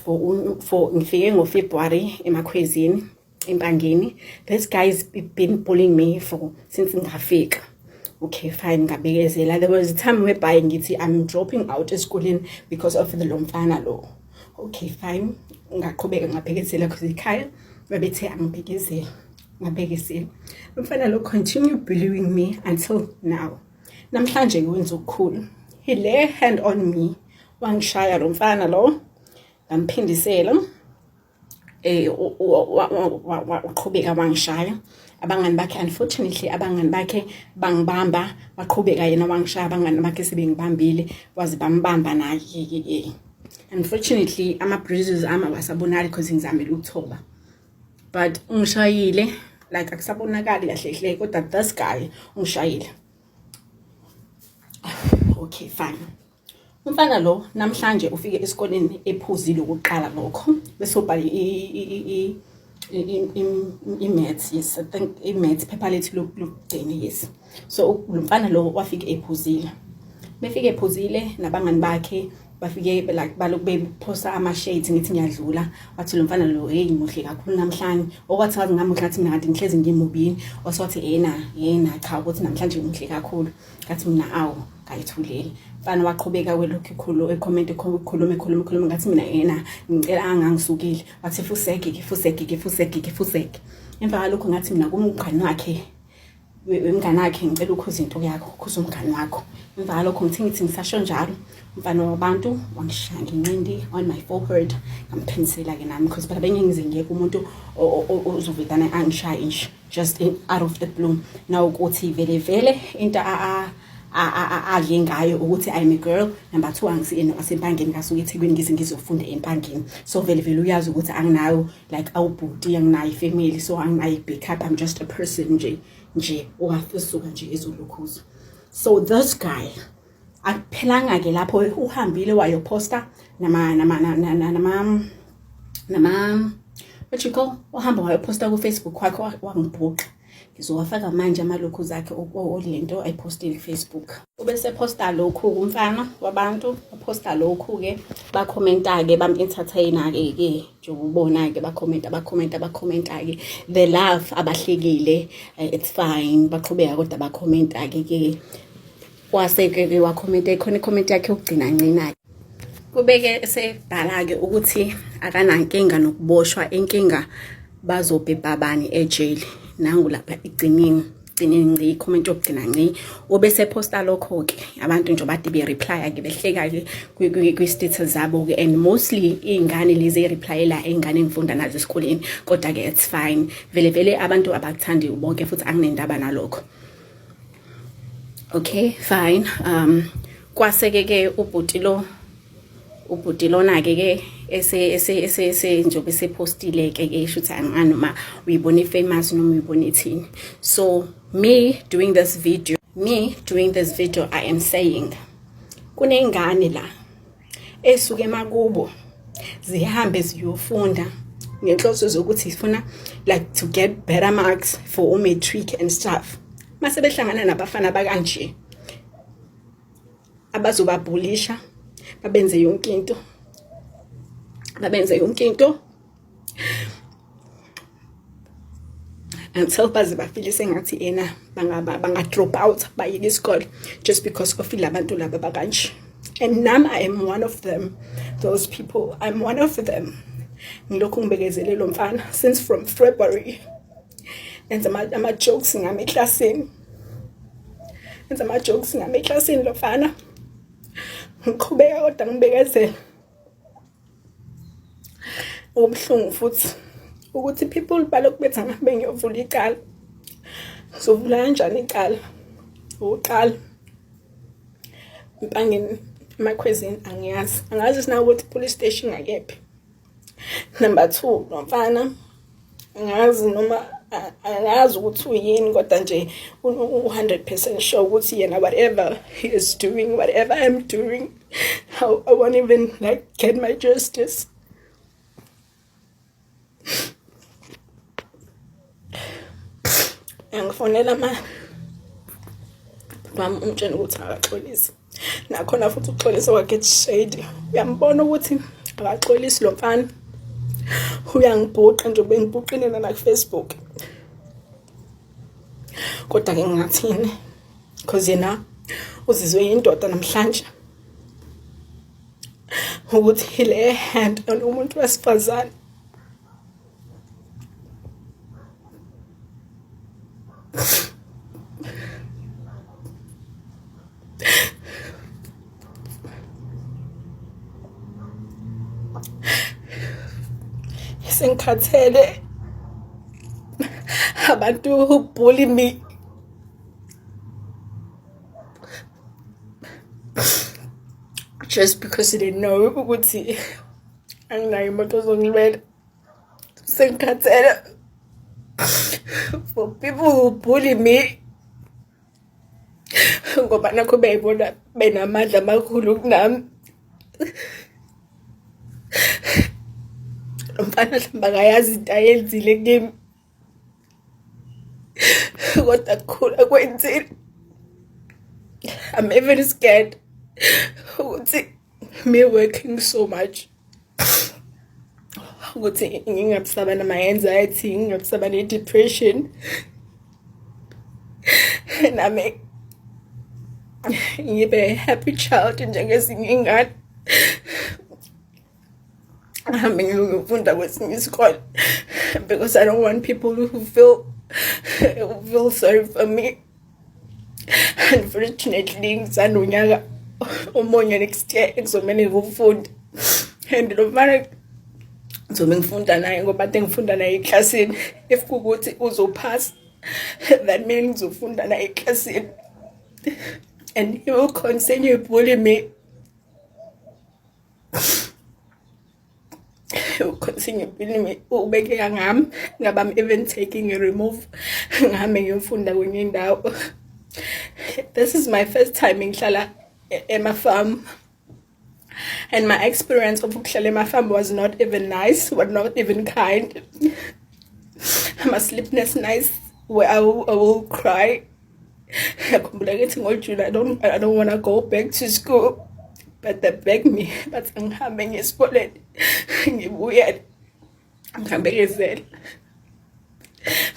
for for ngifike ngo February emakhwezini empangeni this guy is been bullying me for since ngafika okay fine ngabekezela there was a time whereby ngithi i'm dropping out esikoleni because of the lomfana lo okay fine ngaqhubeka ngabhekezela because ikhaya babethe angibhekezela ngabhekezela umfana lo continue bullying me until now namhlanje ngiwenza okukhulu he lay hand on me wangishaya lo mfana lo ngamphindisela eh uqhubeka wangishaya abangani bakhe unfortunately abangani bakhe bangibamba baqhubeka yena wangishaya abangani bakhe sebengibambile waze bambamba naye ke unfortunately ama bruises ama wasabonali because ngizamile ukuthoba but ungishayile like akusabonakali kahle hle kodwa this guy ungishayile okay fine Umfana lo namhlanje ufike esikoleni ephuzile ukuqala lokho bese ubhala i-maths yes i think i-maths phepha lethu lokugcina yes so lo mfana lo wafike ephuzile befike ephuzile nabangani bakhe bafike like balokhu bephosa ama-shades ngithi ngiyadlula wathi lo mfana lo heyi muhle kakhulu namhlanje okwathi ngazi ngamuhle ngathi mina kanti ngihlezi ngimubini wasewathi yena yena cha ukuthi namhlanje muhle kakhulu ngathi mina awu ngayithuleli mfana waqhubeka welokhu ikhulu ekhomenti ikhuluma ikhuluma ikhuluma ngathi mina yena ngicela angangisukile wathi fusege ke fusege ke fusege ke fusege emva kwalokho ngathi mina kumngane wakhe wemngane wakhe ngicela ukhuza into yakho ukhuza umngane wakho emva kwalokho ngithe ngithi ngisasho njalo umfana wabantu wangishaya ngenqindi on my forehead ngamphinisela-ke nami because phela bengingizengiyeka umuntu ozovedane angishaye nje just out of the blue now ukuthi vele vele into a adle ngayo ukuthi i'm a girl number 2 angisiyena wasempangeni ngasuke ethekwini ngize ngizofunda empangeni so vele vele uyazi ukuthi anginayo like awubhuti anginayo ifamily so anginayo backup i'm just a person nje nje owafisuka nje ezolukhuza so this guy akuphelanga ke lapho uhambile wayophosta nama nama nama nama nama what you call uhamba wayophosta ku Facebook wakhe wangibhuqa ngizowafaka manje amalokhu zakhe olento ayipostile Facebook ubese posta lokhu kumfana wabantu posta lokhu ke ba commenta ke bam entertainer ke ke njengobona ke ba commenta ba commenta ba commenta ke the love abahlekile eh, it's fine baqhubeka kodwa ba commenta ke ke waseke ke wakhomenta ikhona icomment yakhe yokugcina ncina-ke kubeke esebhala-ke ukuthi akanankinga nokuboshwa inkinga bazobhebha bani ejeli nangu lapha igciniwe gcine ngci comment yokugcina ngci obese posta lokho ke abantu nje bade be reply ke behleka ke kwi status zabo ke and mostly izingane lezi replyela izingane engifunda nazo esikoleni kodwa ke it's fine vele vele abantu abakuthandi ubonke futhi anginendaba nalokho okay fine um kwaseke ke ubhuti lo ubhuti lona ke ke ese ese ese ese njobe sepostile ke ke isho ukuthi angani uma uyibona ifamous noma uyibona ithini so me doing this video me doing this video i am saying kunengane la esuke emakubo zihambe ziyofunda ngenhloso zokuthi sifuna like to get better marks for u-matric and stuff mase behlangana nabafana bakanje abazobabhulisha babenze yonke into babenze yonke into until baze bafile sengathi yena bangaba banga drop out bayeke isikole just because of labantu laba bakanje and nam i am one of them those people i'm one of them ngilokhu ngibekezele lo mfana since from february enza ama-jokes ngami eklasini enza ama-jokes ngami eklasini lo mfana ngiqhubeka kodwa ngibekezela Ubuhlungu futhi ukuthi people balokhu bethi angabe ngiyovula icala. Ngizovula kanjani icala? Uqala. Impangeni emakhwezini angiyazi. Angazi sinakuthi police station ngakephi. Number two, lo mfana ngazi noma angazi ukuthi uyini kodwa nje u-hundred percent sure ukuthi yena whatever he is doing whatever i'm doing I, i won't even like get my justice angifonela ma mama umtshela ukuthi akaxolise nakhona futhi ukuxolisa kwakhe shade uyambona ukuthi akaxolisi lo mfana uyangibhuqa nje bengibhuqile nana kufacebook kodwa ke ngingathini because yena uzizwe yindoda namhlanje ukuthi le hand umuntu wesifazane sengikhathele abantu who bully me just because they know ukuthi anginayo imoto ozongilwela Sengikhathele for people who bully me ngoba nakho beyibona benamandla amakhulu kunami mfana hlamba kayazi into ayenzile kimi kodwa kukhulu akwenzile i'm even scared ukuthi me working so much ukuthi ngingabisaba nama-anxiety ngingabisaba ne-depression nami ngibe happy child njengezinye ingane ngihambe ngiyofunda kwesinye isikole because i don't want people who feel, who feel sorry for me unfortunately ngisanda unyaka omunye next year ekuzomele ngikufunda and lo mfana ngizobe ngifunda naye ngoba ade ngifunda naye eklasini if kukuthi uzophasa that mean ngizofunda naye eklasini and he will continue bully me continue ukhulumi ubekeka ngami ngaba I'm even taking a remove ngami ngimfunda kwenye indawo this is my first time ngihlala e-, ema farm and my experience of ukuhlala ema farm was not even nice was not even kind I'm a sleepless nights where I will, I will cry ngiyakhumbula ngithi ngojula i don't, I don't wanna go back to school but they beg me bathi angihambe ngiye esikoleni ngibuyele ngihambe ngezela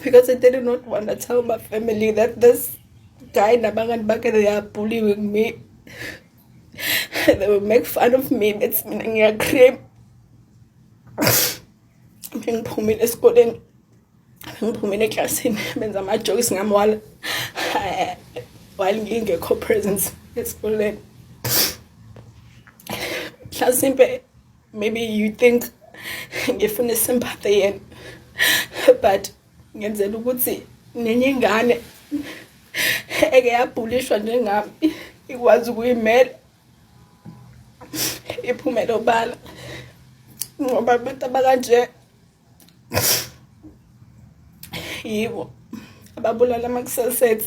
because I did not want to tell my family that this guy nabangani bakhe they are bullying me they will make fun of me bethi mina ngiyacream ngiphumile esikoleni ngiphumile eklasini benza amajokisi ngami wala while ngingekho presence esikoleni mhlasimpe maybe you think ngifuna sympathy yena but ngenzela ukuthi nenye ingane eke yabhulishwa njengami ikwazi ukuyimela iphumele obala ngoba abantu abakanje yibo ababulala ama-cell sets